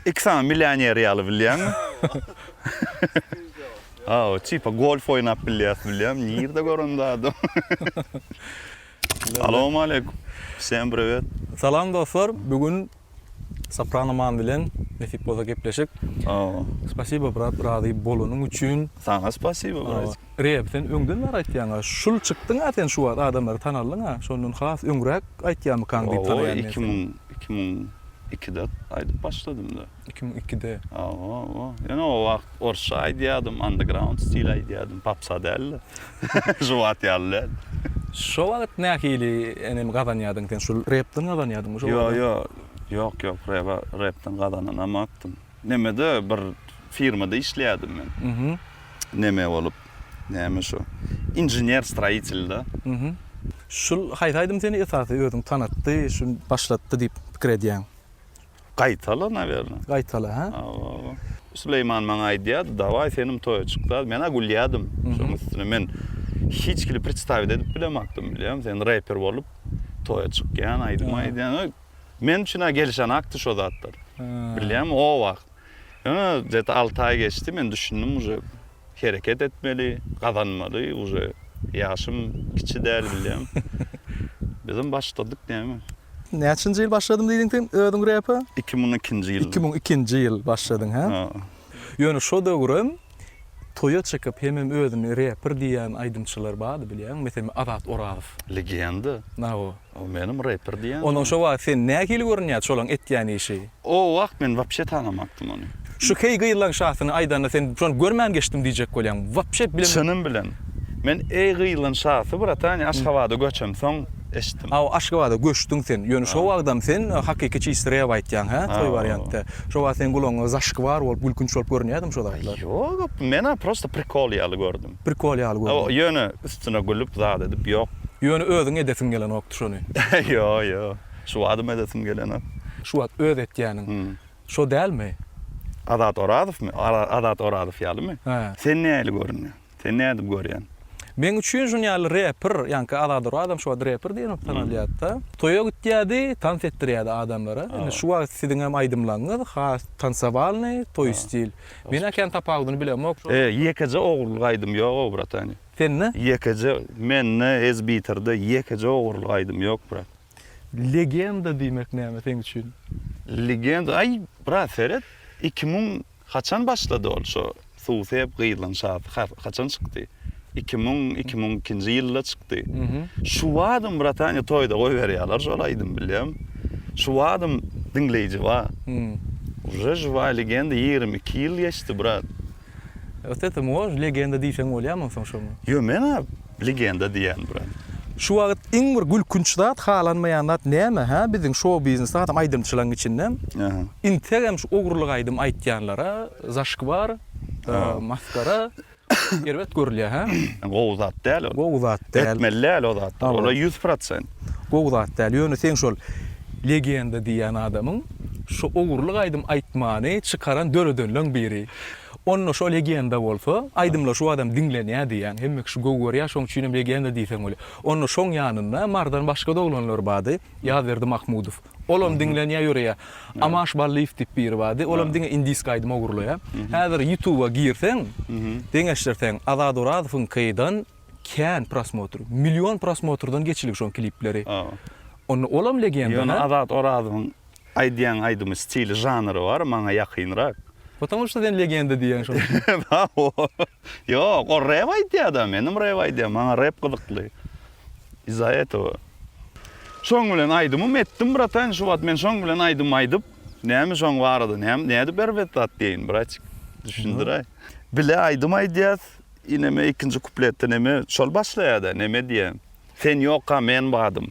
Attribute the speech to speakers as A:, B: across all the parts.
A: Iki sany millioneri ýaly bilýäňmi? Aw, çypa golf oýnap bilýäs bilýäm. Nirde gören zady? Salowmaleýkum. Wsem priwet. Salam dostlar,
B: bu gün Soprano man bilen nesip bolsa gepleşik. Aw. Spasibo brat razy bolanyň üçin. Saňa spasibo
A: brat. Reb sen öňden bar
B: aýtýaňa şul çykdyňa sen şu wagt adamlary tanaldyňa şondan has öňräk aýtýamykaň diýip tanaýan men seni. Iki müň iki müň
A: ikide aýdyp başladymda. Iki müň ikide. Aw aw aw ýöne o wagt Orsça aýdýadym, underground stil aýdýadym, popsa dälde. Juwat ýaly däl. Şo wagt
B: nähili enem gazanýadyň sen? Şul repden gazanýadyňmy şo wagtam? Ýo, ýo, ýok,
A: ýok, reba, repden gazananamokdym. Nemede bir firmada işleýädim men. Neme bolup, näme şu, inžener stroýitelda.
B: Şul haýsy aýdym seni esasy özüňi tanatdy, şun başlatdy diýip pikir edýäň? Gaýtala
A: nawerne. Gaýtala hä. Hawa.
B: Süleýman
A: maňa aýdýardy, dawaý senem toýa çyk da. Men-ä gülýärdim. Şoň üstüne men hiç kili predstawit edip bilemakdym bilýäňmi. Sen reper bolup toýa çykýan, aýdym aýdýan. Men üçin-ä gelişenakdy şo zatlar. Bilýäňmi o wagt. Ýöne gete alty aý geçdi, men düşündim uje hereket etmeli, gazanmaly, uje ýaşym kiçi däl bilýäň. Bizem başladyk näme. Näçinji
B: ýyl başladym diýdiň sen özüň repe? Iki müň ikinji ýylda. Iki
A: müň ikinji ýyl başladyň
B: hä? Ýöne şo döwürem Toýa çykyp hemem özüni reper diýýän aýdymçylar bardy bilýäňmi? Meselem Azat Orazow. Legenda.
A: Nago. O
B: menem reper
A: diýýän. Ondan şo wagt sen nähili
B: görünýärdi şolaň etýän işi? O wagt men
A: wapşe tanamapdym ony. Şu heý gyýyllaň
B: şasyny aýdanda sen şony görmän geçdim diýjek bolýaň. Wapşe bilemok. Çynym bilen.
A: Men eý gyýyllaň şasy bratan Aşgabada göçemsoň. eşitdim. Aw Aşgabada göçdüň
B: sen. Ýöne şo wagtam sen hakyky çysty rap aýtýaň hä toý wariantda. Şo wagt seň gulagyňa zaşkvar bolup gülkünç bolup görünýädim şo zatlar. Ýok op mena
A: prosta prikol ýaly gördüm. Prikol ýaly gördüm.
B: Ýöne üstüne
A: gülüp zat edip ýok. Ýöne özüň edesiň
B: gelenokdy şony. Ýo ýo
A: şu wadym edesim gelenok. Şu wagt öz
B: etýäniň şo dälmi? Azat
A: Orazowmy? Azat Orazow ýalymy? Hä. Sen nähili görünýäň? Sen nädip görýän? Meň üçin şun
B: ýaly reper, ýaňky Azady Orazam şobada reper diýlip tanalýardy-da. Toýa gitýärdi, tans etdirýärdi adamlara. Indi şu wagt siziňem aýdymlaňňyz has tansowalnyý, toý stil. Men-ä kän tapawudyny bilemok. E, ýekeje ogurlyk
A: aýdym ýog-ow, bratany. Sende? Ýekeje, mende, Ezbitarda ýekeje ogurlyk aýdym ýok, brat. Legenda
B: diýmek näme seň üçin? Legenda,
A: aý, brat, seret, iki müň Haçan başlady ol şo suw sep gyzlyň şasy haçan çykdy iki müň iki müň ikinji ýylda çykdy şuwadym bratanya toýda goýberýaler şol aýdym bilýäm şuwadym diňleýji ba uje žyway legenda ýigrimi iki ýyl geçdi brat öte
B: tymgoş legenda diýseň bolýamy onsoň şoňa ýo men a.
A: Legenda diýýän brat. Şu wagyt iň
B: bir gülkünç zat halanmaýan zat näme hä biziň şou biznes adam aýdymçylaň içinde integem şu ogrulyk aýdym aýtýanlara zaşkvar maskara erbet görülýä hä. Gowy zat däl
A: ol. Gowy zat däl. Etmeli
B: däl o zatlar.
A: Olar ýüz prosent. Gowy zat däl.
B: Ýöne seň şol legenda diýýän adamyň şu ogrulyk aýdym aýtmany çykaran döredenleň biri. Onda şo legenda bolsa, aýdymlar şu badam diňlenýär diýýäň, hemme kişi gowy görýär, şoň üçinem legenda diýseň bolýar. Onda şoň ýanynda Marydan başga-da oglanlar bardy, Ýazberdi Mahmudow. Olam diňlenýär ýöreýär. Amaş Ballyýew diýip biri bardy, olam diňe indiski aýdym ogurlaýar. Häzir Ýutuba girseň, deňeşdirseň, Azat Orazowyňkydan kän prosmotr. Million prosmotrdan geçilgi şoň klipleri. Onda olam legenda, hä? Ýöne Azat Orazowyň
A: Aýdýan aýdymy stili žanry bar maňa ýakynrak. Потому şo sen
B: legenda diýýäň şoň üçin. Haoo.
A: Ýok ol rep aýdýada menem rep aýdýan maňa rep gyzykly. Iz za etowa. Şoň bilen aýdymym etdim bratan şu wagt men şoň bilen aýdym aýdyp näme şoň barada näme nädip erbet zat diýeýin bratik düşündiräý. Bile aýdym aýdýas ineme ikinji kupletde neme şol başlaýada neme diýýä sen ýokka men badym.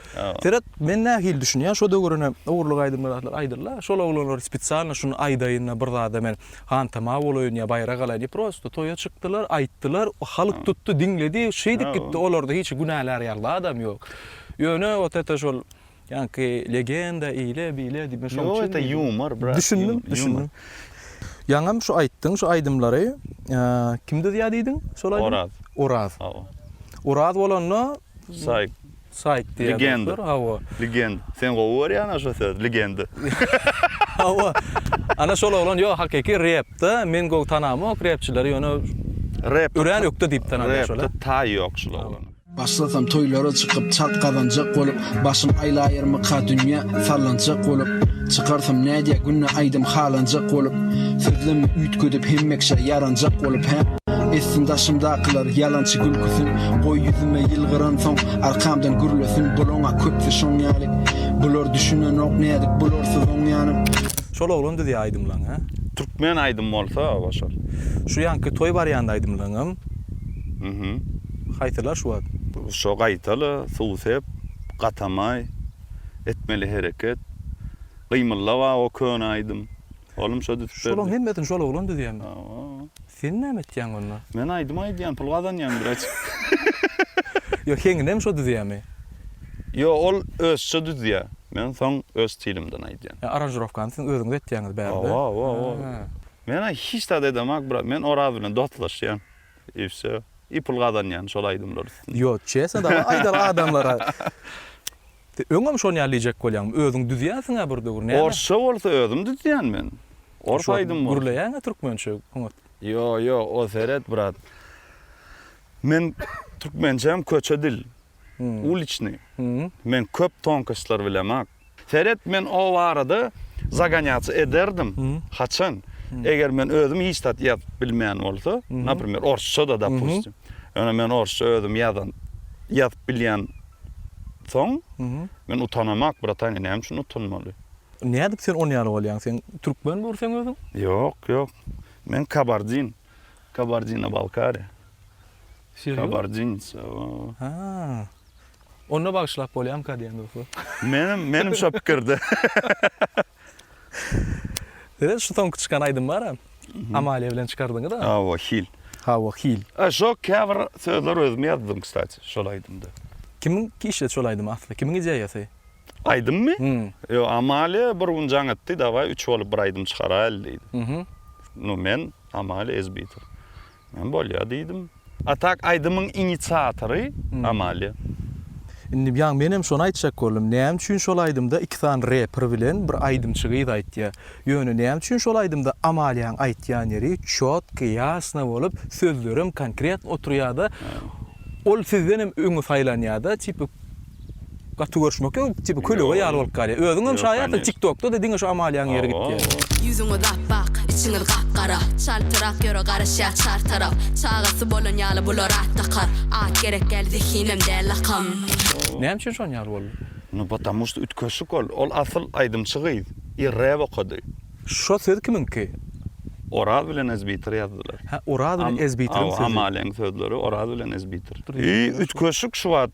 B: Seret, men
A: nähili
B: düşünýän, şo döwürine ogurlyk aýdymlar zatlar aýdyldy-a, şol oglanlar spesialno şuny aýdaýyn-da bir zada men hantama bolaýyn ýa baýrak alaýyn diýip prosto toýa çykdylar, aýtdylar, halk tutdy, diňledi, şeýdip gitdi, olarda hiç günälär ýaly zadam ýok. Ýöne ot ete şol ýaňky legenda eýle, beýle diýip men şoň üçin diýdim.
A: Düşündim, düşündim.
B: Ýaňam şu aýtdyň şu aýdymlary kim düzýär diýdiň şol aýdymy? Oraz. Oraz. Oraz bolanda. Saýk.
A: Saýt diýýär
B: dostlar. Hawa.
A: Legend.
B: Sen gowy
A: görýän aşa söz, legenda. Hawa.
B: Ana şol oglan ýok, hakyky repda men gowy tanamok repçileri, ýöne rep örän
A: ökde diýip tanalýar
B: şolar. Repda taý ýok şul oglana.
A: Başlasam toýlara
C: çykyp çalt gazanjak bolup Başym aýlaýarmyka dünýä sallanjak bolup Çykarsam nädýä günde aýdym halanjak bolup Sözlemi üýtgedip hemmeşe ýaranjak bolup hä. Etsin daşymdakylar ýalançy gülküsin, Goý ýüzüme ýylgyransoň, arkamdan gürlesin, Bulaň-a köpsi şoň ýaly, bular düşünenok, Nädip bularsyz oňýanym. Şol oglan düzýär
B: aýdymlaň hä. Türkmen aýdym
A: bolsa goşar. Şu ýanky toý
B: barýanda aýdymlaňam. Mhm.
A: Haýsylar
B: şu wagt. Şo gaýtala
A: suw sep, gatamaý, etmeli hereket, gymyllaba o köne aýdym. Oglum şo düzüp berdi. Şolaň hemmesini şol oglan
B: düzýämi? Hawa. Sen
A: näme etýäň
B: onda? Men aýdym aýdýan,
A: pul gazanýan biraz.
B: Ýok, heňinem şo düzýämi? Ýok,
A: ol özçe düzýä. Men soň öz stilimden aýdýan. Ýa aranžirowkany siziň özüňiz
B: etýäňiz bärde? Hawa, hawa, hawa.
A: Men hiç zat edemak brat. Men Oraz bilen dostlaşýan. I wsё. I pul gazanýan şol aýdymlar üstünden. Ýok, çesne
B: dagy aýdaly adamlara. Sen öňem şony ýaly diýjek bolýaňmy? Özüň düzýänsiň-ä bir döwür, näme? Orsça bolsa özüm
A: düzýän men. Ors aýdym bolsa. Gürleýäň-ä türkmençe
B: oňat. Ýo, ýo,
A: o seret, brat. Men türkmençäm köçe dil. Uliçnyý. Men köp tonkostlar bilemok. Seret, men o barada zagonýaça ederdim. Haçan? Eger men özüm hiç zat ýazyp bilmeýän bolsa, naprimýer, orsça-da, dopustim. Ýöne men orsça özüm ýazan, ýazyp bilýän soň, men utanamak, bratany, näme üçin utanmaly? Nädip sen on
B: ýaly bolýaň? Sen türkmen dur sen özüň? Ýok, ýok.
A: Men kabardin. Kabardino-Balkariýa. Kabardinca. Ha.
B: Onda bagyşlap bolýamyka diýen dostlar. Menem menem şo
A: pikirde.
B: Ýöne şu soňky çykan aýdym bara. Amalia bilen çykardyňyz-a. Hawa hil. Hawa
A: hil.
B: A şo käbir
A: sözler özüm ýazdym kstati şol aýdymda. Kimiň işledi
B: şol aýdymy asly? Kimiň ideýasy? Aýdymmy?
A: Hum. Ýok Amalia bir gün jaň etdi dawaý üç bolup bir aýdym çykaraýaly diýdi. Hum. Nu men Amalia Ezbitow. Men bolýar diýdim. A tak aýdymyň inisiatory Amalia. Indi
B: ýa menem şony aýtjak boldum. Näme üçin şol aýdymda iki sany reper bilen bir aýdymçy gyz aýtýar? Ýöne näme üçin şol aýdymda Amaliaň aýtýan ýeri çotky, ýasna bolup, sözlerem konkretno oturýada, ol sizdenem öňe saýlanýada, tipa, Gaty görüşmek ýok tipi kölege ýaly bolup galýar özüňem şaýatsyň tik tokda da diňe şu Amaliýaň ýeri gitýär. Ýüzüňiz apbak,
D: içiňiz gapgara, Çaltrak ýöre garaşýar çar tarap, Çagasy bolan ýaly bular at dakar, At gerek däl zehinem däl lakam. Näme üçin
B: şon ýaly boldy. Nu potamu što
A: ütkeşik ol. Ol asyl aýdymçy gyz. Ir rep okady. Şo söz
B: kimiňki? Oraz
A: bilen ezbitir ýazdylar. Hä Oraz bilen
B: ezbitirň sözi. Hawa Amaliýaň sözleri Oraz
A: bilen ezbitir. Ýy ütkeşik şu wagt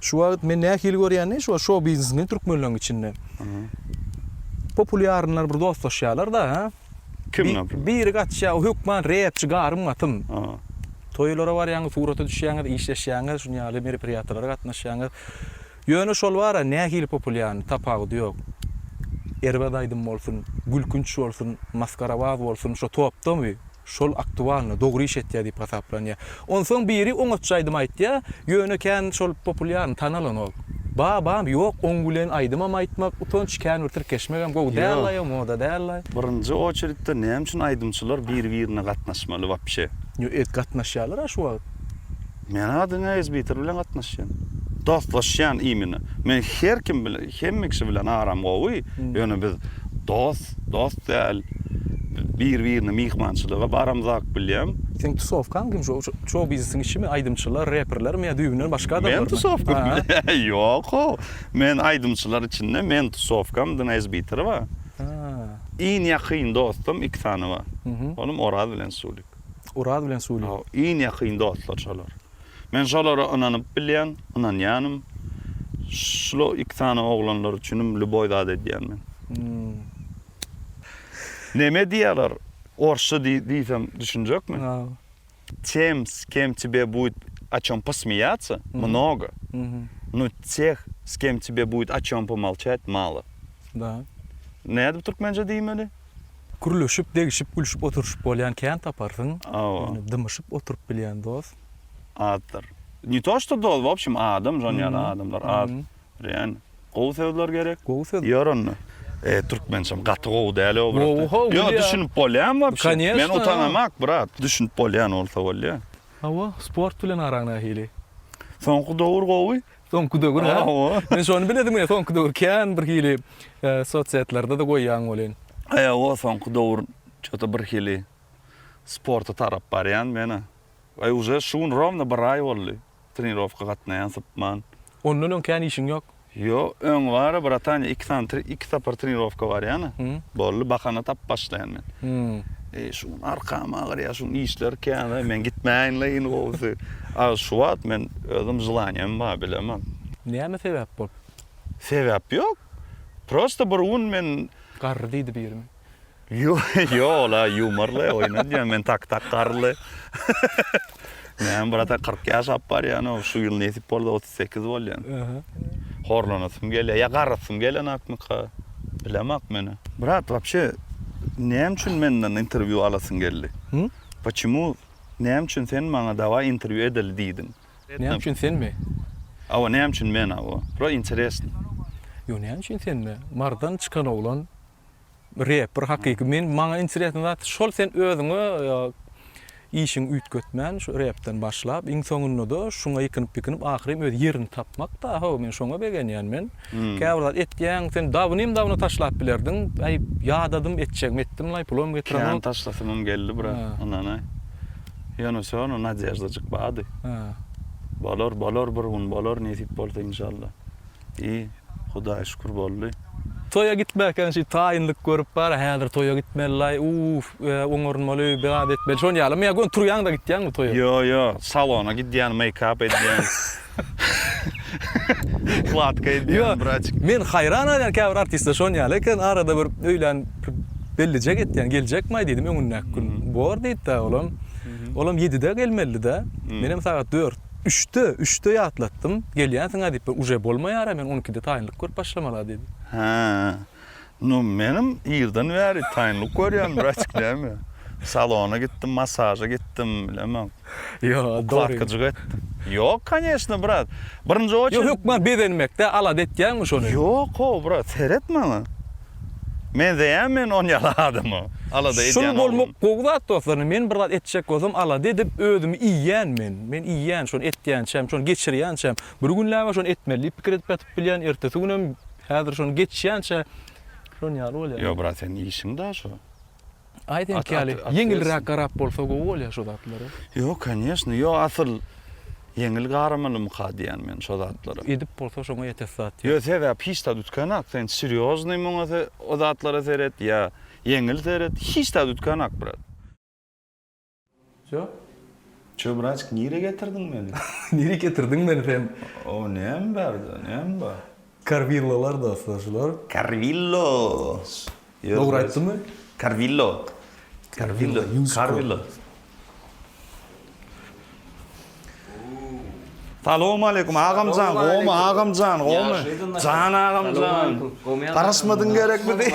A: Şu wagt men
B: nähili görýäni şu şou biznesini türkmenleriň içinde. Populýarnlar bir dostlaşýarlar da ha. Kim naprimýer?
A: Biri gaçýar hökman
B: repçi garym gatym. Toýlara barýaňyz surata düşýäňiz işleşýäňiz şuny ýaly merepirýatylara gatnaşýaňyz. Ýöne şol bara nähili populýarny tapawudy ýok. Erbet aýdym bolsun, gülkünç bolsun, masgarabaz bolsun şo topdamy? Şol aktualno, dogry iş etýär diýip hasaplanýar. Onsoň biri oňatjy aýdym aýtýar, ýöne kän şol populýarny tanalan ol. Babam, ýok, oň bilen aýdymam aýtmak utanç, kän bir tirkeşmegem gowy dällaýo, moda dällaý. Birinji oçeritde
A: näme üçin aýdymçylar bir-birine gatnaşmaly wapşe? Ýo et gatnaşýarlar-a
B: şu wagt. Men-a
A: diňe Esbiter bilen gatnaşýan. Dostlaşýan imine. Men her kim bilen, hemme kişi bilen aram gowy, ýöne biz dost, dost däl. Biz bir-birine myhmançylyga baramzak bilýän. Seň tusowkaň kim?
B: Şu şou-biznesiň işimi? Aýdymçylar, reperlermi ýa düýbünden başga adamlarmy? Meň tusowkam? Ýok-ow.
A: Men aýdymçylar içinde meň tusowkam diňe Esbiter bar.
B: Iň ýakyn
A: dostum iki sany bar. Olam Oraz bilen Sulik. Oraz bilen Suly.
B: Iň ýakyn dostlar
A: şolar. Men şolara ynanyp bilýän, ynanýanym. Şlo iki sany oglanlar üçinim lýuboý zat edýän men. Neme diýýäler, orsça diýsem düşünjekmi?
B: Tem
A: s kem tebe buýt a çom posmýýatsa, mnogo, nu teh s kem tebe buýt a çom pomolçat, malo.
B: Nädip
A: türkmençe diýmeli? Gürleşip,
B: degişip, gülşüp oturyşyp bolýan kän taparsyň. Hawa. Ýöne dymyşyp
A: oturyp
B: bilýän dost. Azdyr.
A: Ne to što dost, w opşim adam şon ýaly adamlar az. Birem gowy sözler gerek. Gowy söz. Ýör onda.
B: E,
A: türkmençem gaty gowy däl o brat. Gowy how, Ýok, düşünip
B: bolýan wapşe.
A: Kanyýeşna. Men utanamak
B: brat,
A: düşünip bolýan bolsa bolýa. Hawa, sport
B: bilen araň nähili? Soňky
A: dowur gowy, Soňky döwür ha?
B: Men şony biledim
A: ya, soňky
B: döwür kän bir hili e, sosiýetlerde de goýýan bolýan. Aýa o soňky
A: döwür çota bir hili sporta tarap barýan men. Aý uje şu gün rovno bir aý boldy. Trenirowka gatnaýan sypman. Ondan öň kän
B: işiň ýok. Yo, öň bara
A: bratan iki sany iki sapar trenirowka barýan. Boldy, bahana tap başlaýan men. Eý, şu gün arkam agyr ýa, şu gün işler kän-ä, men gitmäýin-le iň gowusy. A şu wagt men özüm želaniýam bar, bilemok. Näme sebäp
B: bolup? Sebäp
A: ýok. Prosta bir gün men. Garry diýdi
B: birimiz. Ýo-ýo,
A: ol-a ýumor-le, oýun edýän, men tak-tak garry-le. Näme, brat-a, kyrk ýaşap barýan-ow, şu ýyl nesip bolsa Sekiz bolýan. Horlanasym gelýär. Ýa garasym gelenakmyka? Bilemak men. Brat, wapşe näme üçin menden interwýu alasyň geldi? Почему, näme üçin sen maňa dawaý interwýu edeli diýdiň? Näme üçin senmi?
B: Hawa, näme
A: üçin men, hawa. Pro interesno. Ýo näme
B: üçin senmi? Mardan çykan oglan Reper hakyky men maňa interesno zat şol sen özüňe işiňi üýtgetmän şu repden başlap iň soňundada şuňa ýykynyp ýykynyp ahyryn öz ýerini tapmakda ho men şoňa begenýän men käbir zat etýäň sen dabynym dabyna taşlap bilerdiň aý ýadadym etjegimi etdim laý pulom getiremok kän taşlasymym
A: geldi brat ynanaý ýöne şonda nadejda jyk bardy bolar bolar bir gün bolar nesip bolsa inşallah I, Hudaýa şükür boldy. Toýa gitmäkäň
B: şi taýynlyk görüp bar, häzir toýa gitmelilaý, uff, oňarynmaly, biat etmeli, şon ýalymy ýa göni turýaňda gitýäňmi toýa? Ýo, ýo, salona
A: gidýän, meýkap edýän, ukladka edýän, braçk. Ýo, men haýran galýan
B: käbir artistler şon ýaly eken, arada bir öýlän bellije getýän, geljekmaý diýdim öňündäki gün, bor diýipdä olam, olam ýedide gelmelidä, menem sagat dört. Üçde, üçde ýatlatdym. Gelýänsiň-ä diýip bir uje bolmaýar-a, men on ikide taýynlyk görüp başlamala diýdi. Hä.
A: Nu, menem irden bäri taýynlyk görýän, braçik, näme? Salona gitdim, massaža gitdim, bilemok. Ýok, dogry.
B: Ukladkajyga
A: etdim. Ýok, konýeçno, brat. Birinji oçer. Ýok, hökman bezenmek-dä,
B: alada etýäňmi şony? Ýok-ow, brat,
A: seret maňa. Menzeýämi men on ýaly adama? Alada edýän oglan. Şul bolmak gowy zat
B: dostlar. Men bir zat etjek bolsam alada edip özümi iýýän men. Men iýýän şony etýänçäm, şony geçirýänçäm. Bir günläp-ä şony etmeli diýip pikir edip ýatyp bilýän, ertesi günem häzir şony geçýänçä şon ýaly bolýar. Ýo brat seniň işiň
A: daşo. Aý seňki
B: ýaly ýeňilräk garap bolsa gowy bolýar şo zatlary. Ýok kanyýeşna
A: ýok asyl ýeňil garamalymyka diýýän men şo zatlara. Edip bolsa şoňa ýetes
B: zat ýok. Ýok sebäp hiç zat
A: üýtgänak sen serýoznyý muňa o zatlara seret ýa ýeňil seret hiç zat üýtgänak brat. Jok.
B: Çöbraçk
A: nire getirdiň meni? Nire getirdiň
B: meni sen? O näme
A: bärde, näme bar? Karvillolar
B: dostlar şular. Karvillo.
A: Dogry
B: aýtdymy? Karvillo.
A: Karvillo. Karvillo. Salam aleyküm agamjan, gomy agamjan, gomy. Jan agamjan. Garaşmadyň gerekmidi?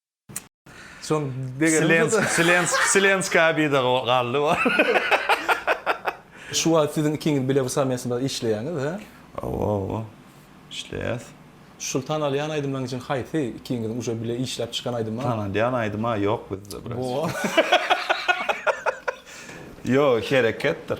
B: Soň degerim Silenska
A: bida galdy o. Şu
B: wagt siziň ikiňiz bile bu samesmada işleýäňiz, hä? Hawa, hawa.
A: Işleýäs. Şul
B: tanalýan aýdymlaryň içinden haýsy ikiňiziň uje bile işläp çykan aýdymy bar? Tanalýan aýdyma
A: ýok bizde biraz. Bo. Ýok, hereketdir.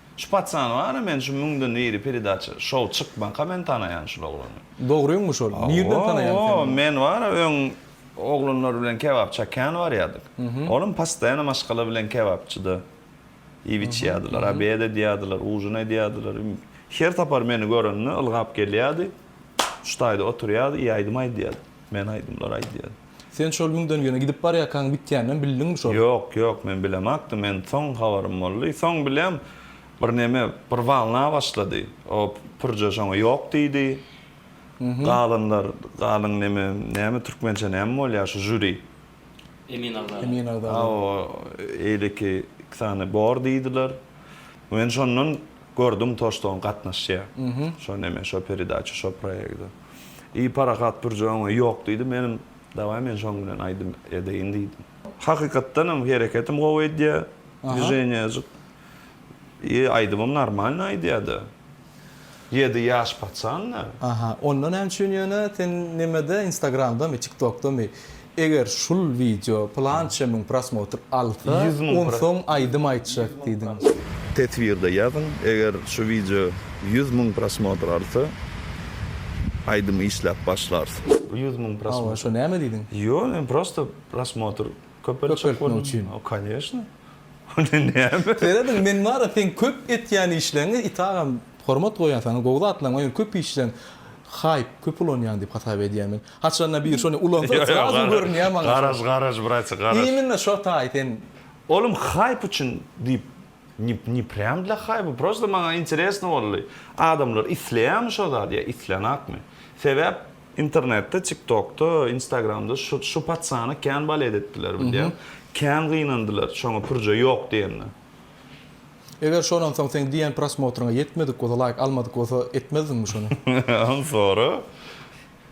A: Şu paçany bary men şu müňden biri peredaça şow çykmaka men tanaýan şul oglany. Dogryňmy şol?
B: Nirden tanaýaň sen ony? Men bara öň
A: oglanlar bilen kebap çakýan barýadyk. Olam postoýano maşgala bilen kebapçyda iýip içýädiler, obed edýädiler, ujin edýädiler. Her sapar meni görende ylgap gelýädi. Şu taýda oturýady, ýaýdym aýdýady. Men aýdymlar aýdýan. Sen şol müňden
B: ýöne gidip barýarkaň bitýäninem bildiňmi şol? Ýok, ýok men bilemakdym,
A: men soň habarym boldy. Soň bilýän, bir neme, bir walna başlady. O pürje şoňa ýok diýdi. Galanlar, galan neme, näme türkmençe näme bolýar şu žuri? Emin agzala.
B: Emin agzala. O
A: eýleki iki sany bor diýdiler. Men şondan gördüm to ştoň gatnaşýa. Şo neme şo peredaça şo proýegde. I parahat durja öňe ýok diýdi. Menem dawaý men şoň bilen aýdym edeýin diýdim. Hakykatdanam hereketim gowy edýä. Dwiženiýajyk. I aýdymym normalny aýdýada. Ýedi ýaş paçan näme? Aha onda näme
B: üçin ýöne sen nemede instagramdamy tiktokdamy eger şul wideo pylança müň prosmotr alsa onsoň
A: aýdym
B: aýtjak diýdiň. Teswirde
A: ýazyň eger şu wideo ýüz müň prosmotr alsa aýdym işläp başlars. Ýüz müň prosmotr. Hawa şo näme
B: diýdiň?
A: Ýok
B: men prosta
A: prosmotr köpeltjek boldum. Köpeltmek üçin.
B: Koneşno.
A: Onda näme? Serediň men
B: bara seň köp etýän işleňi it agam hormat goýýan saňa gowy zatlaň ony köp işleň hype köp ulanýaň diýip hasap edýän men haçanda bir şony ulansa srazu görünýä maňa garaz garaz brace garaz
A: imенно şo taý sen
B: Olim
A: hype üçin diýip ne prýam dla hype prosta maňa interesno boldy adamlar isleýämi şo zady ýa islenakmy sebäp Internetde tiktokda instagramda şu şu patsany kän balet etdiler bilýäň kän gynandylar şoňa pürje ýok diýende.
B: Eger şondan soň seň diýen prosmotryňa ýetmedik bolsa laýk almadyk bolsa etmezdiňmi şony. Ony sora.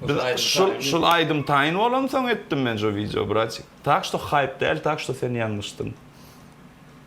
A: Biz şul şul aýdym taýyn bolansoň etdim men şu wideo bratik. Tak şto haýp däl tak şto sen ýalňyşdyň.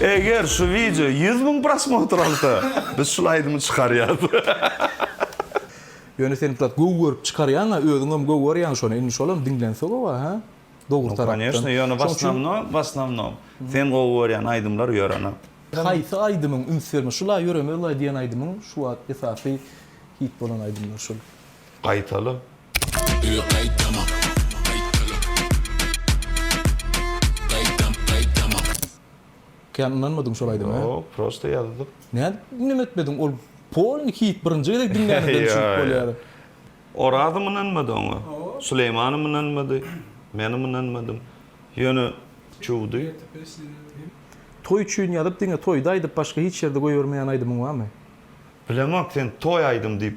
A: Eger şu wideo ýüz müň prosmotr alsa, biz şul aýdymy çykarýas.
B: Ýöne sen brat gowy görüp çykarýaňa özüňem gowy görýäň şony indi şolam diňlense gowa hä dogry tarapdan. No
A: koneşno ýöne w osnomnom w osnomnom sen gowy görýän
B: aýdymlar
A: ýörene.
B: Haýsy aýdymyň üns berme şula ýöremezlaý diýen aýdymyň şu wagt esasy hit bolan aýdymlar şul. Gaýtala.
A: Öe gaýtama. Gaýtala.
B: Gaýtam gaýtama. Kän ynanmadyň şol aýdyma he. Ýok prosta ýazdym.
A: Nädip neme
B: etmediň ol polny hit birinji gezek diňlänimde düşünip bolýar. Orazym
A: ynanmady oňa. Suleýmanym ynanmady. Menem ynanmadym. Ýöne çüwdi.
B: Toý üçin ýazyp diňe toýda aýdyp başga hiç ýerde goýbermeýän aýdymyň barmy. Bilemok
A: sen toý aýdym diýip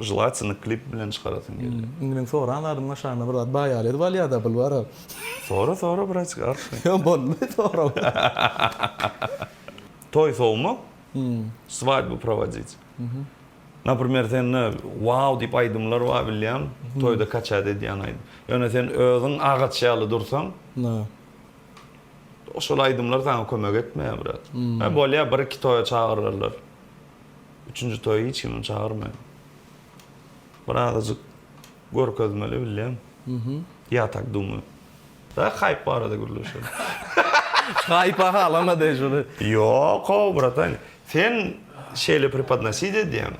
A: Želatinyň klip bilen çykarasyň gelýär. Indi meň soran zadym
B: aşagynda bir zat baýar ýaly bolýar da bul bara. Sora sora
A: bratik artmyş. Ýok bolmady
B: soramagy.
A: Toý sowmak, swadýbu prowodit. Naprimer sende wow diýip aýdymlar bar bilýän, toýda kaçat edýän aýdym. Ýöne sen özüň agaç ýaly dursaň, şol aýdymlar saňa kömek etmeýär brat. Bolýar bir iki toýa çagyrarlar. Üçünji toýa hiç kimi çagyrmaýan. Bir azajyk görkezmeli bilýän. Ýa tak dumýan. Daýy haýp barada gürleşeli.
B: Haýpa halama deý şuny. Ýok-ow
A: bratan. Sen şeýle prepodnosit edýäň.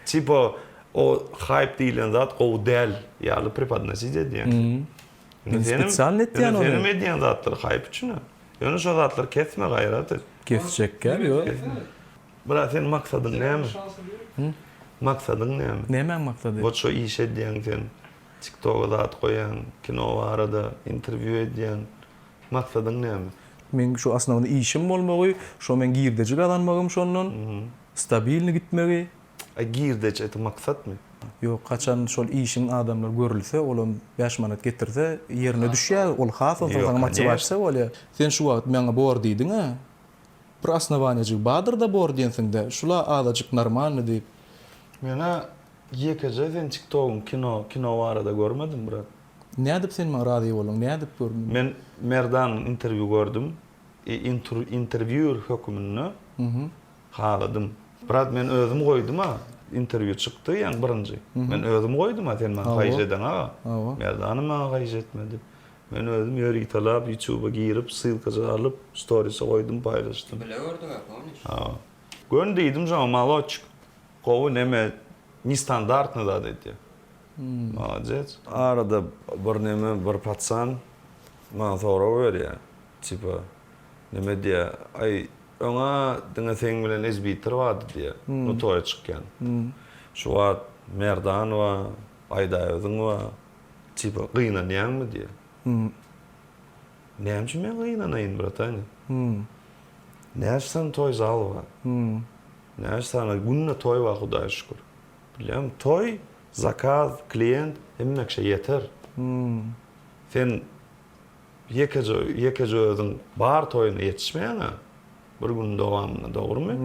A: Tipa o haýp diýlen zat gowy däl ýaly prepodnosit edýäň sen. Men
B: spesialny etýän ony. Ýöne seniň edýän zatlaryň haýp
A: üçin-ä. Ýöne şo zatlary kesme gaýrat et. Kesjekkä
B: ýok. Brat
A: seniň maksadyň näme? Hü? Maksadyň näme? Nämäň maksady? Wot şo
B: iş edýäň
A: sen. Tiktoga zat goýýaň, kino barada interwýu edýäň. Maksadyň näme? Meň şu osnowny
B: işim bolmagy, şo meň girdeji gazanmagym şondan, stabilny gitmegi. A girdeç
A: eti maksatmy? Ýok, haçan
B: şol işiň adamlar görülse, olam bäş manat getirse, ýerine düşýär, ol has onsoň saňa motiwasiýa bolýar. Sen şu wagt maňa bor diýdiň-ä? Bir osnowaniýajygy badyr-da bor diýensiň-dä, şul-a azajyk normalny diýip. Men-ä
A: ýekeje seniň tiktogyňy kino, kino barada görmedim, brat. Nädip sen maňa
B: razy boluň, nädip gör meni? Men Merdanyň
A: interwýu gördüm i intur, interwýur höküminde haladym. Brat, men özüm goýdum-a, interwýu çykdy, ýaňy birinji. Men özüm goýdum-a, sen maňa haýyş edeň-a. Hawa. Merdanyň maňa haýyş etmedi. Men özüm ýöritalap ýutuba girip ssylkajygy alyp storise goýdum paýlaşdym. Bile gördüňä
E: pomniş. Ha. Göni
A: diýdim şoňa maloçik gowy neme nestandardny zat edýä. Molodec. Arada bir neme bir patsan maňa sorag berýä tipa neme diýä aý öňä diňe seň bilen ezbitir bardy diýä no toýa çykýan. Şu wagt Merdanowa, Aýdaöziňowa. Tipa, gynanýaňmy diýýär. Näme üçin men gynanaýyn, bratany? Näçe sany toý zal bar? Näçe sany günde toý bar, Hudaýa şükür. Bilýäňmi, toý, zakaz, klient hemme kişä ýeter. Sen ýekeje, ýekeje özüň bar toýuna ýetişmeýäň-ä bir günüň dowamynda, dogrumy?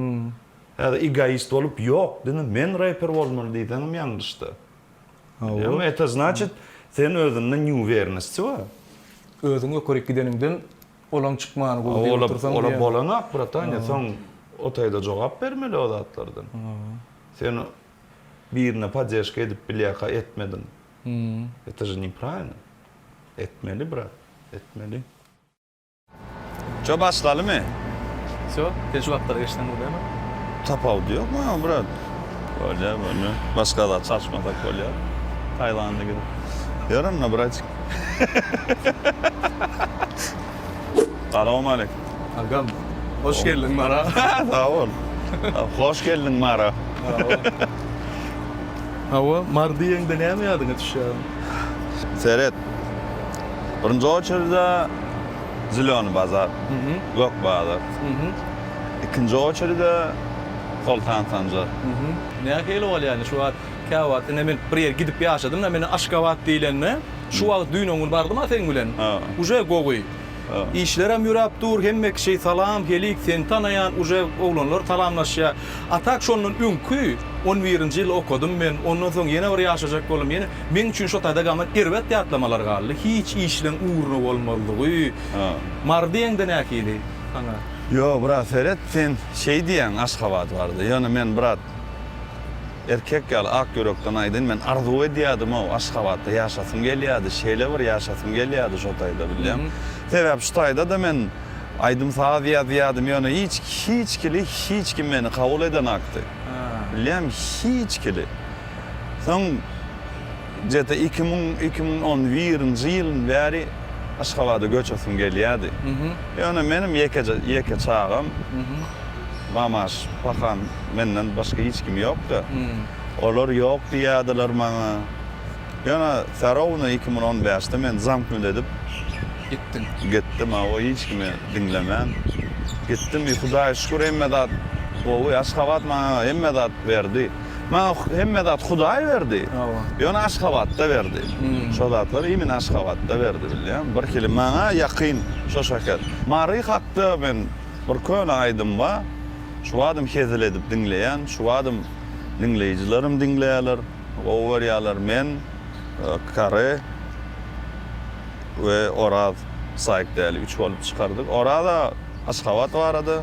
A: Häzir egoist bolup, ýok, diňe men reper bolmaly diýseňem ýalňyşda. Ama eto znaçit sen özünde nýuwernisçi bar. Özüň ýokaryk
B: gideniňden olaň çykmany gowy diýip otursaň diýýän. Ola bolanok bratanya
A: soň o taýda jogap bermeli o zatlardan. Sen birine poddežka edip bilýärka etmediň. Eto je nepravilno. Etmeli brat, etmeli. Şo başlalymy? Şo,
B: sen şu wagtlar eşden bolýamy? Tapawudy
A: ýok maňa brat. Bolýar bolýar. Başga zat çalyşmasak bolýar. Taýlanda gidip. Ýör onda bratik. Salowmaleýkim. Agam,
B: hoş geldiň Mara. Sag bol.
A: Hoş geldiň Mara.
B: Hawa, Mar diýeňde näme ýadyňa düşýär? Seret.
A: Birinji oçerde Zülöni bazar, Gök bazar. Ikinji oçerde Soltan Sanjar. Näme şeýle
B: bolýar indi şu wagt? Käwagt indi men bir ýere gidip ýaşadym-da, meni Aşgabat diýlende, şu wagt düýn-öňňun bardym-a seň bilen. Uje gowy. Işlerem ýöräp dur, hemme kişi salam, helik, seni tanaýan uje oglanlar salamlaşýa. A tak şondan öňki on birinji ýyl okadym men, ondan soň ýene bir ýaşajak boldum, ýene meň üçin şo taýda gaman erbet ýatlamalar galdy. Hiç işleň ugruna bolmazlygy. Mary diýeňde nähili saňa? Ýo brat
A: seret sen şeý diýýäň Aşgabat barada, ýöne men brat. Erkek ýaly ak ýürekden aýdyn men arzuw edýädim-ow Aşgabatda ýaşasym gelýädi şeýle bir ýaşasym gelýädi şo taýda bilýäňmi sebäp şu taýdada men aýdym saz ýazýadym ýöne hiç hiç kili hiç kim meni kabul edenakdy bilýäňmi hiç kili soň Jete iki müň iki müň on birinji ýylyn bäri Aşgabada göçesim gelýärdi. Ýöne menem ýekeje ýeke çagam. Mamaş, pahan menden başga hiç kim ýokdy. Olar ýok diýýärdiler maňa. Ýöne Sarowna iki müň on bäşde men zanknut edip Gitdiň. gitdim, hawa, hiç kimi diňlemän. Gitdim, i Hudaýa şükür hemme zat gowy. Aşgabat maňa hemme zat berdi. Maňa hemme zat Hudaý berdi. Ýöne Aşgabatda berdi. Şo zatlary imin Aşgabatda berdi bilýäňmi. Bir hili maňa ýakyn şo şeker. Mary hakda men bir köne aýdym bar. Şu badym hezil edip diňleýän. Şu badym diňleýjilerim diňleýärler. Gowy görýärler. Men, Kary we Oraz Saýykdäli üç bolup çykardyk. Oraz aga Aşgabat barada.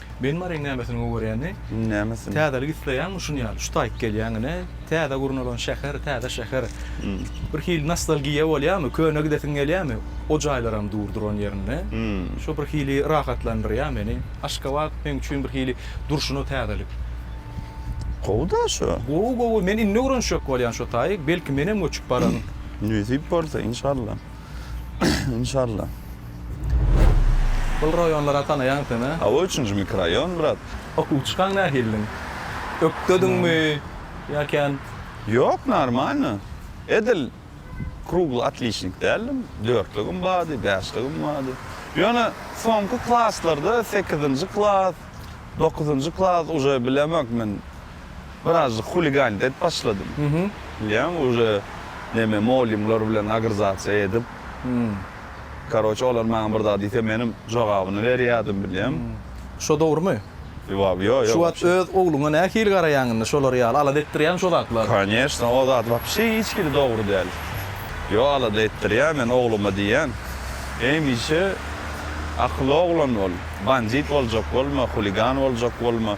F: Benim areň
B: nämesini gowerýäni? Nämesini? Täzelik
A: isleýäňmi
B: şuny ýaly? Şu taýyp gelýäň ine. Täze gurnalan şäher, täze şäher. Bir hili nostalgiýa bolýamy? Köne gidesiň gelýämi? O jaýlaram dur duran ýerinde. Şu bir hili rahatlandyrýa meni. Aşgabat meň üçin bir hili durşuna täzelik.
A: Gowy-da şu. Gowy gowy. Men indi
B: öwrenşjek bolýan şu taýy. Belki menem göçüp baran. Nesip bolsa,
A: inşallah. Inşallah.
B: Bul raýonlara tanaýaň sen-ä? Hawa üçünji mikroýon
A: brat. Okuw çykan
B: nähilidiň? Ökdediňmi ýa kän? Ýok
A: normalno. Edil krugly otliçnik däldim. Dörtligim bardy, bäşligim bardy. Ýöne soňky klaslarda sekizinji klas, dokuzynjy klas uje bilemok men. Birazjyk huliganit edip başladym. Bilýäňmi, uje neme moulimler bilen agrzasiýa edip, karoçe, olar maňa bir zat diýse, menem jogabyny berýärdim, bilýäňmi? Şo dogrumy?
B: Ýo, ýo. Şu
A: wagt öz
B: ogluňa nähili garaýaň indi? Şolar ýaly alada etdirýärmi şo zatlar? Koneçna, o zat
A: wapşe hiç hili dogry däl. Ýo, alada etdirýän men ogluma diýýän, Hemişe akylly oglan bol, bandit boljak bolma, huligan boljak bolma.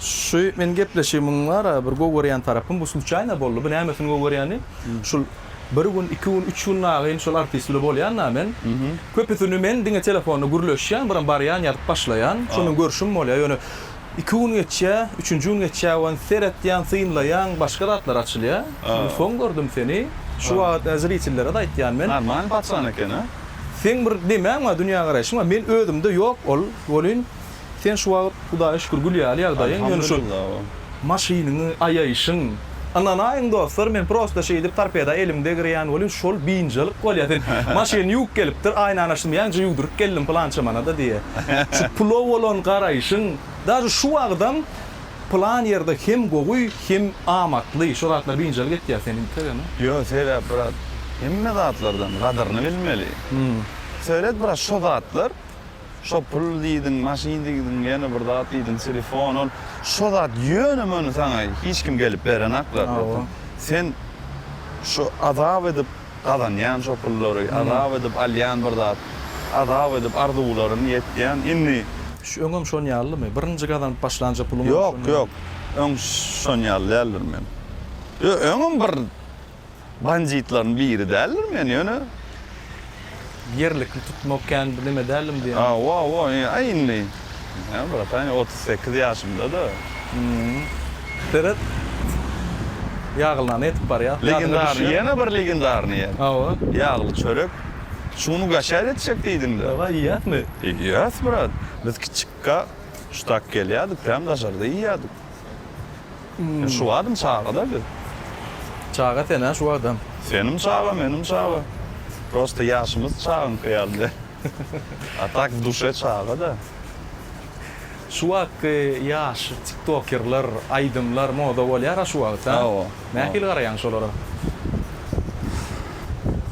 B: Şu meniň gepleşigimiň bara bir gowy görýän tarapym bu sluçaýna boldy. Bu nämesini gowy görýäni, şul bir gün, iki gün, üç gün nagyn şol artist bilen bolýan-da men. Köpüsini men diňe telefonda gürleşýän, biram barýan, ýazyp başlaýan. Şol bilen görşüm bolýar. Ýöne iki gün geçýär, üçünji gün geçýär, ýöne seretýän, synlaýan, başga zatlar açylýar. Şonda soň gördüm seni. Şu wagt zritellere-de aýtýan men. Normalny paçan eken-a.
A: Seň bir
B: nemäň bar, dünýägaraýşyň bar. Men özümde ýok ol. Welin, Sen şu wagt Hudaýa şükür gül ýaly ýagdaýyň, ýöne şu maşynyňy aýaýşyň, ynanaýyň dostlar men prosta şeýdip torpeda elim degirýän welin şol biynjalyk bolýar sen maşyn ýuwup gelipdir aýnany açdym ýaňja ýuwduryp geldim pylança manada diýe şu pula bolan garaýşyň daže şu wagtam pylan ýerde hem gowy hem amatly şo zatlar biynjalyk etýär seni entek ene. Ýok sebäp brat
A: hemme zatlardan gadyryny bilmeli. Söýlet brat şo zatlar Şo pul diýdiň, maşyn diýdiň, ýene bir zat diýdiň, telefon ol. Şo zat ýöne-möne saňa hiç kim gelip berenak zatlary. Sen şu azap edip gazanýan şo pullary, azap edip alýan bir zat, azap edip arzuwlaryňy ýetýän. Indi. Öňem şon
B: ýalymy? Birinji gazanyp başlanja puluňam şon ýaly? Ýok, ýok.
A: Öň şon ýaly däldir men. Ýo, öňem bir. banditlaryň biri däldir men ýöne
B: ýerlikli tutmak kän bir neme däldim diýýän. Hawa hawa aý
A: indi näme brataýn otuz sekiz ýaşymda da. Hmmm
B: seret ýaglylany ýetip barýa. Legendarnyý ýene bir
A: legendarnyý ýer. Hawa. Ýagly
B: çörek
A: şuny gaşa etjek diýdiň de. Dawaý iýýäsmi?
B: Iýýäs brat
A: biz kiçikka şu tak gelýädik täm daşarda iýýädik. Şu adam çagada biz. Çaga
B: sen a şu adam. Senim çaga menim
A: çaga. Prosta yaşymyz çagyňky yaly däl. A tak duşe çaga da.
B: Şu wagtky ýaş tiktokerler, aýdymlar moda bolýar a şu wagt ha. Hawa. Nähili
A: garaýaň şolara?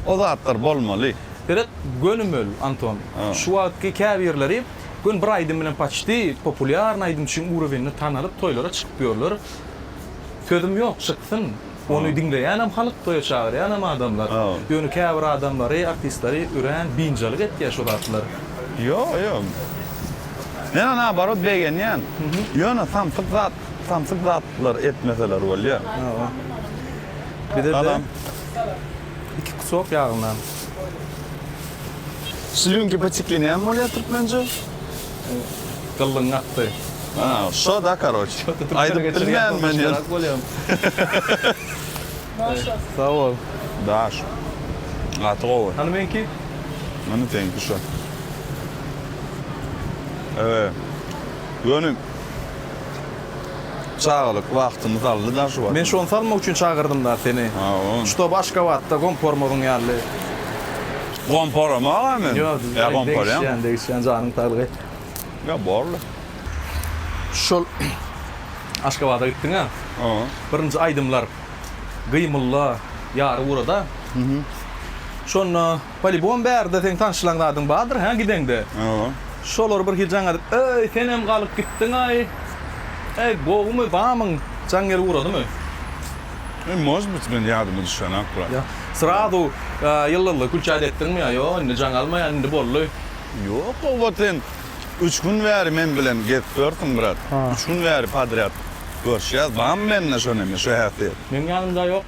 A: O zatlar bolmaly. Seret
B: gönümel Anton. Şu wagtky käbirleri. Gün bir aýdym bilen paçti populýarny aýdymçyň urowinine tanalyp toýlara çykyp ýörler. Sözüm ýok çyksyn. Ony diňleýänem halyk toýa çagyrýanam adamlar. Ýöne käbir adamlary artistlary örän biynjalyk etýä şu zatlar. Ýok ýok.
A: Men ony naobarot begenýän. Ýöne samsyk zat samsyk zatlar etmeseler bolýa.
B: Salam. Iki kusok ýagyndan.
A: Slýunki poteklenýanmi bolýar türkmence?
B: Gyllyň akdy. A, şo da
A: karoç. Aýdyp bilmen men ýöne.
B: Sag bol. Daş.
A: Gaty gowy. Hany meňki?
B: Hany seňki
A: şo. Ýöne. Çagalyk wagtymyz aldy da şu wagt. Men şony salmak üçin çagyrdym
B: da seni. Hawa. Ştob Aşgabatda gom pormagyň ýaly. Gom poramagam
A: men. Ýok,
B: degişýän,
A: degişýän janyň saglygy.
B: Ýok, borly. Şol Aşgabada gitdiňä. Hawa. Birinji aýdymlar Gyýmulla ýary urada. Şonda Polibom bärde seň tanşylan zadyň bardyr hä gideňde. Hawa. Şolar bir hijaň edip, Eý, senem galyp gitdiňaý. Eý, gowumy, bamyň? Jaň gelip ugradymy? Eý,
A: mož bit, men ýadyma düşenok brat. Ýa, srazu
B: ýyldyzly külçäýt etdiňmi ýa ýok, indi jaň almaýan, indi boldy. Ýok, gowa
A: sen üç gün bäri men bilen gezip ýörsüň brat. Üç gün bäri podrýad görşýäs, bamy mende şo neme, şo häsiýet? Meň ýanymda ýok.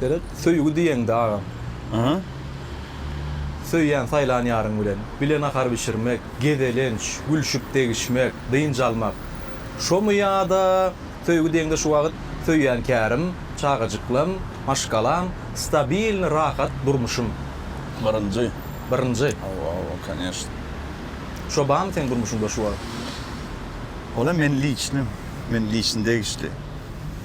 B: Seret, söýgi diýeňde agam. Aha. Söýýän, saýlan ýaryň bilen bile nahar bişirmek, gezelenç, gülşüp degişmek, dynç almak. Şomy ýa-da söýgi diýeňde şu wagyt söýýän kärim, çagajyklam, maşgalam, stabilny rahat durmuşym. Birinji. Birinji. Hawa, hawa,
A: koneşna.
B: Şo barmy seň durmuşyňda şu wagyt?
A: Olam men liçny, men liçni degişli.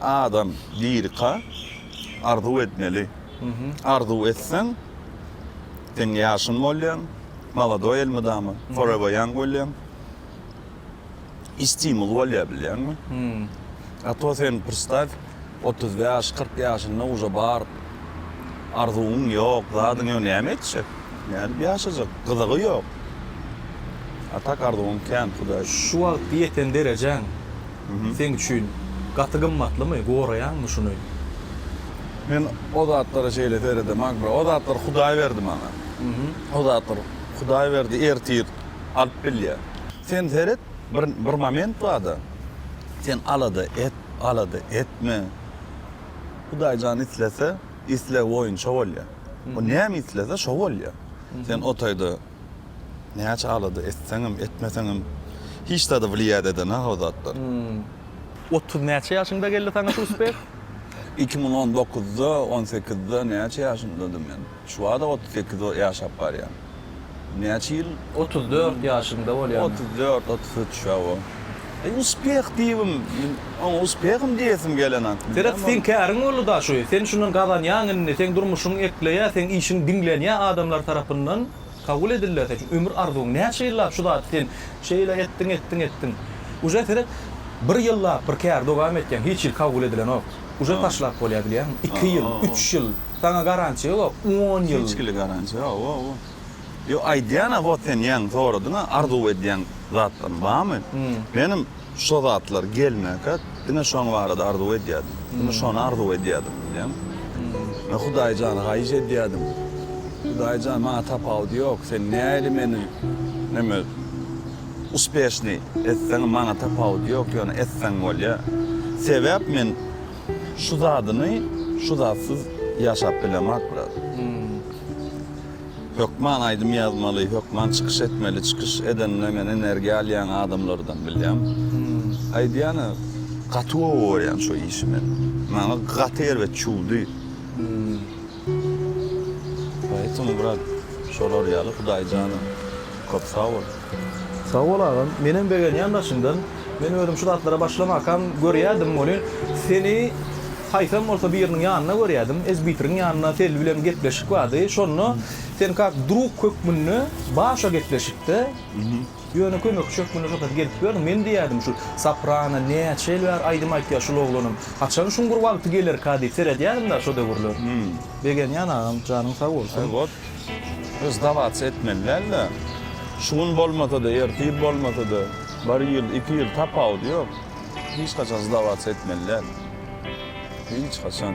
A: Adam lirika arzuw etmeli. Arzuw etseň sen ýaşyn bolýaň, molodoý elmydama, forever young bolýaň. I stimul bolýar bilýäňmi? A to sen prstaw otuz bäş, kyrk ýaşyna uje bar arzuwyň ýok, zadyň ýok näme etjek? Nädip ýaşajak? Gyzygy ýok. A tak arzuwyň kän hudaý. Şu wagtky ýeten
B: derejäň seň üçin gaty gymmatlymy, goraýaňmy şuny?
A: Men o zatlara şeýle seredem agra, o zatlar Hudaý berdi maňa. O zatlar Hudaý berdi, ertir alyp bilýär. Sen seret, bir bir moment barda, sen alada et, alada etme. Hudaý jan islese, islegi boýunça bolýar. O näme islese, şo bolýar. Sen o taýda Näçe alada etseňem, etmeseňem hiç zada wlýat edena o zatlar.
B: Otuz näçe ýaşyňda geldi saňa şu uspeh? Iki müň on
A: dokuzda, on sekizde näçe ýaşymdadym men? Şu bada otuz sekiz ýaşap barýan. Näçe ýyl? Otuz dört ýaşyňda
B: bolýan. Otuz dört, otuz üç,
A: hawa. Eý uspeh diýibim, men oňa uspehim diýesim gelenok. Seret, seň käriň boldy
B: da şu, sen şundan gazanýaň indi, seň durmuşyň ekleýär, seň işiň diňlenýär adamlar tarapyndan kabul edilýär sen şu ömür arzuwyň näçe ýyllap şu zady sen şeýle etdiň etdiň etdiň uje seret bir ýyllap bir käri dogam etýäň hiç hili kabul edilenok uje taşlap bolýar bilýäňmi iki ýyl üç ýyl saňa garantiýa ýok on ýyl hiç hili garantiýa ýok
A: Ýo aýdýana hot sen ýaň soradyňa arzuw edýän zatlaryň bamy? Menem şo zatlar gelmäkä diňe şoň barada arzuw edýädim. Diňe şony arzuw edýädim diýýän. Men Hudaý jana haýyş edýädim. Hudaý jan maňa tapawudy ýok sen näli meni neme uspeşniý etseňem maňa tapawudy ýok ýöne etseň bolýa. Sebäp men Şu zadyny şu zatsyz ýaşap bilemak biraz. Hökman aýdym ýazmaly, hökman çykyş etmeli, çykyş edende men energiýa alýan adamlardan bilýän. Aýdýany gaty gowy görýän şu işi men. Maňa gaty erbet çüwdi. Poetim brat şolar ýaly Hudaýjana köp sag bol. Sag bol
B: agam. Menem begenýän daşyňdan. Men özüm şu zatlara başlamakam görýädim welin seni haýsam bolsa biriniň ýanynda görýädim. Ezbitriň ýanynda Selbi bilen gepleşik bardy. Şonda sen kak drug hökmünde başa gepleşikde ýöne kömekçi hökmünde şol saat gelip ýörüň. Men diýýädim şu Saprana näçe ýyl bäri aýdym aýtýar şul oglanam. Haçan şuň bir wagty gelerka diýip seredýädim-de şo döwürler. Begenýän agam janyň sag bolsun.
A: Sdawats etmeli däl-de. Şu gün bolmasa-da, ertir bolmasa-da, bir ýyl, iki ýyl, tapawudy ýok. Hiç haçan sdawats etmeli däl. Hiç haçan.